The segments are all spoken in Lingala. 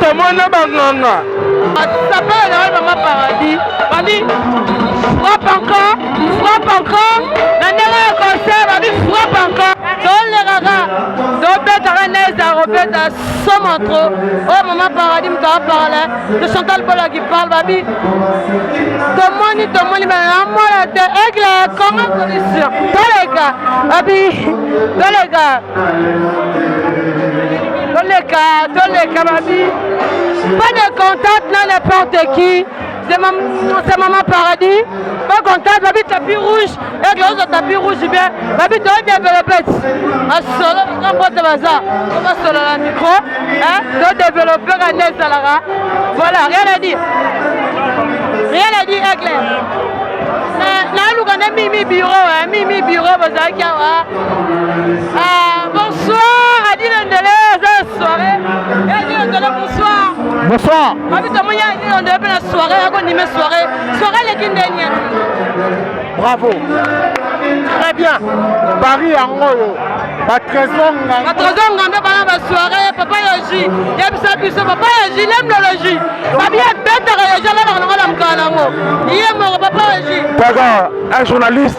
tomona banganga sapela na ngai mama paradis babi frappe encore frappe encore na ndenge ya concert babi frappe encore tolekaka tobetaka neza kobeta soma tro oyo mama paradis moto aparle to chantal bola qui parle babi tomoni tomoni banamona te aigle ya congo solution toleka babi toleka toleka toleka babi pas de contact na n'importe qui c'est ma, maman paradis pas contact babi tapis rouge eke ozo tapis rouge bien babi toye bien velopete masolo baza mbote baza to basolo na micro to développe ka nde ezalaka voilà rien à dire rien à dire aigle naluka nde mimi biro mimi biro bozalaki awa Ah, bonsoir, Adi Lendele, c'est soirée. Adi Lendele, bonsoir. Bonsoir. Abi tomoni Adi Lendele pe na soirée, yako nime soirée. Soirée leki ndenge. Bravo. Très bien. Paris yango yo. Ba trésor nganga. Ba trésor nganga bana ba soirée, papa Yoji. Yebisa biso papa Yoji, l'aime le Yoji. Babi abetaka Yoji na na na mkana ngo. Iye mo papa Yoji. Pega un journaliste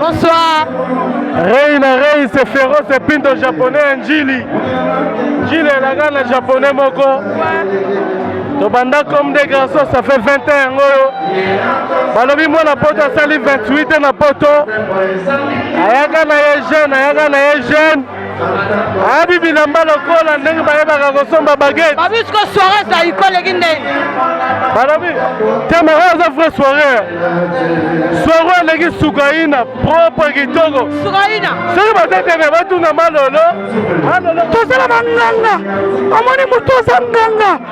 Bonsoir. Reina Rei c'est féroce et pinto japonais Njili. Njili elaka na japonais moko. tobanda comme des garçons ça fait 20 ans yango oyo balobi mwana poto asali 28 ans na poto ayaka na ye jeune ayaka na ye jeune abi bilamba lokola ndenge bayebaka kosomba bagete babisiko soirée ezali koleki ndenge balobi te moko aza vrai soirée soirée eleki sukaina propre kitoko sukaina soki batetene batuna malolo tosala banganga omoni moto oza nganga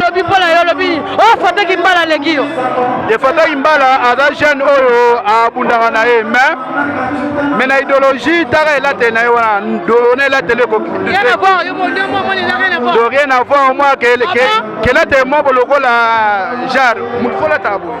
lobi mpo na yo lobi oyo fata kimbala aleki yo ye fata kimbala aza jeune oyo abundaka na ye mais mais na idéologie taka elateli na ye wana dolo na elateli ekokdo rien avoir mwa kelateli moko lokola genre motu folataka boye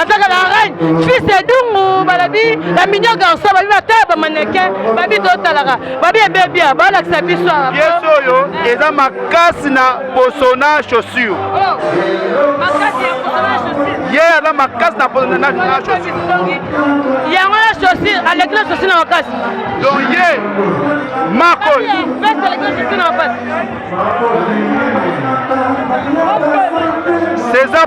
azaka la reine fils ya dungu balabi la mignon garçon babi batala bamaneke babi totalaka babi ebebia balakisa biso piese oyo eza makasi na posona chaussure oh, ye aza makasi na posona yango na chaussure aleki na chaussure na makasi donc ye mako césar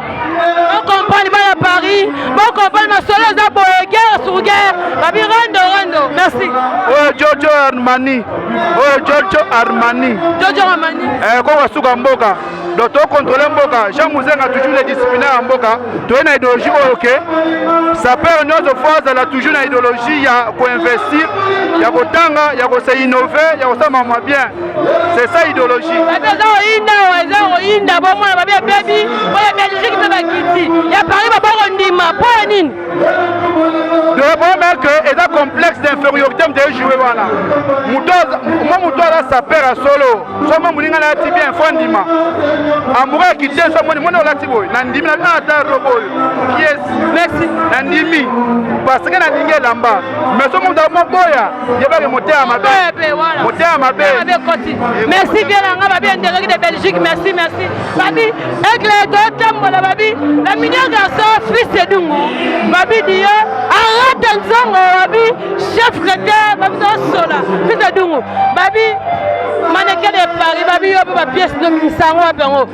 bokomprendre bana paris bokomprendre masolo eza boye guerre sur guerre babi rando rando merci oyo jojo armani oyo jojo armani jojo armani eh, koko asuka mboka donc tocontrole mboka jean muzenga toujours le disciplinaire ya mboka toye na idéologie oyo ke sapeur nyonso fo azala toujours na idéologie ya koinvestir ya kotanga ya kose innove ya kosala mamwa bien c'est ça idéologie bato eza koyinda oyo eza koyinda bomona babi ebebi oyo belgique mpe bakiti ya paris babakondima mpo ya nini devomer que eza complexe d'infériorité moto ejoue wana mwa moto aza saper ya solo somo moninga na yati bien fo andima amoura ya kiti so moni moni olati boye nandimi na ata robo oyo kies nandimi parce que nalingi elamba mais somo moto amoboya yebaki motema mabe motema mabe merci bien na nga babi endeleki de belgique merci merci babi aigle totambola babi la mignon garçon fils edungu babi diyo arata nzongo babi chef cretin babi tosola fils edungu babi manekele paris babi yo mpe bapiese no mimisango wapi yango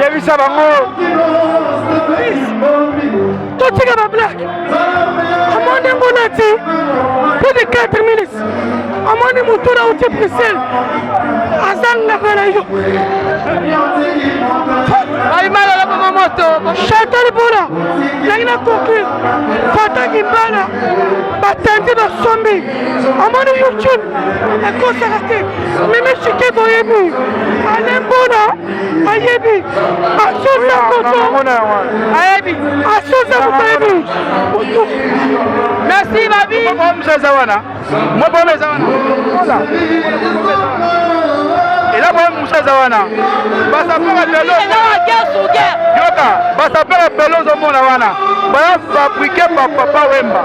yebisa bango totika bablake amoni yango nati plus de 4 minutes amoni motu na uti bruxelles azangaka na yo bayimalalakoma moto chantal bola ndenge na conclure fataki mbala batandi basombi amoni fortune ekosaka te mimi chike boyebi alembona ayebi asosa koto ayebi asosa koto ayebi merci babi eza wana mobolo eza wana ela boye musa eza wana basapaka lelo yoka basapaka pele ozomona wana baya fabrike bapapa wemba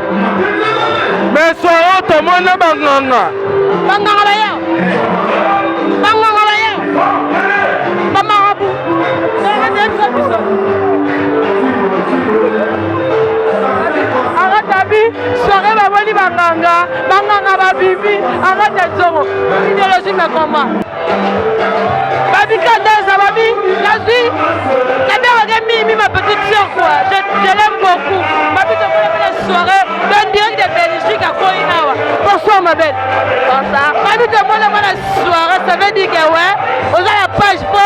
meso oyo tomona banganga banganga baye banganga banganga babimi arrete nzongo ideologie mekoma Babi Kadeza, Babi, nazwi naberaka mimi ma petite sœur quoi je, je l'aime beaucoup Babi tokola mpe na soirée to direct de Belgique akoyi awa bonsoir ma belle bonsoir Babi tokola mpe na soirée ça veut dire que ouais oza na page po